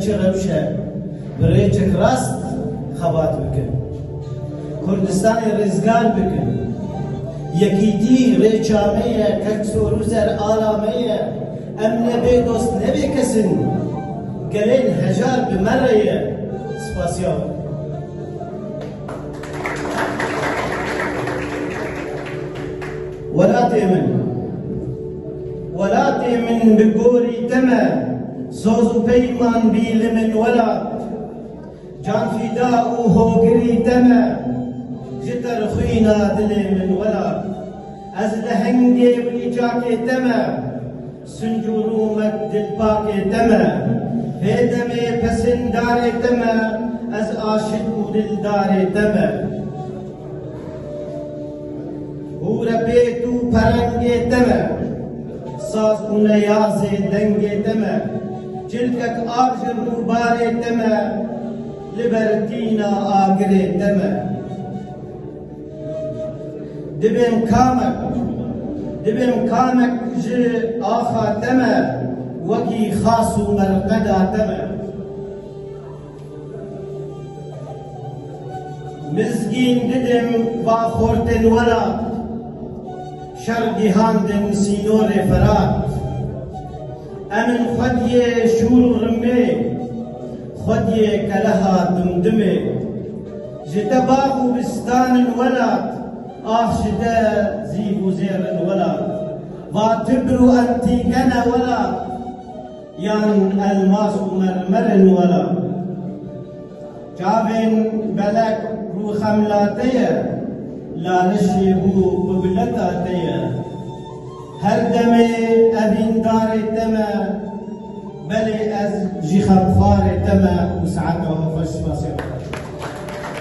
Çi rewş e bi rêçek rast xebat bikin, Kurdistanê rêzgar bikin. Yekîtî rêça me ye, Keksoruzer ala me ye, em ne bê dost ne bê kes in. Gelên hejar bi me re ye. Spasiya wan. Welatê min, welatê min bi gorî te me. Soz û peyman bî li min welat. Canfîda û hogirî te me. Ji qirxwîna dilê min welat. Ez lehengê û nîçakê te me. Sinc û rûmek dilpakê te me. Vê demê pesindarê te me. Ez aşik û dildarê te me. Hûre pêk û perengê te me, saz û neyazê dengê te me, cilkek a ji rûbarê te me, li ber tîna agirê te me. Dibêm kamek, dibêm kamek ji axa te me, wekî xas û merqeda te me. Mizgîn Didim va xortên welat Şer gihand in sînorê Ferat Em in xwediyê şûr û rimmê Xwediyê keleha dimdimê Ji te bax û bistan in welat Ax ji te zîv û zêr in welat Va tibr û entîgene welat Yan elmas û mermer in were. Çavên belek bû xemla te ye, lalişê bû qubileta te ye. Her demê evîn darê te me, belê ez jî xemxwarê te me û saeta xwe xweş spasê xwe.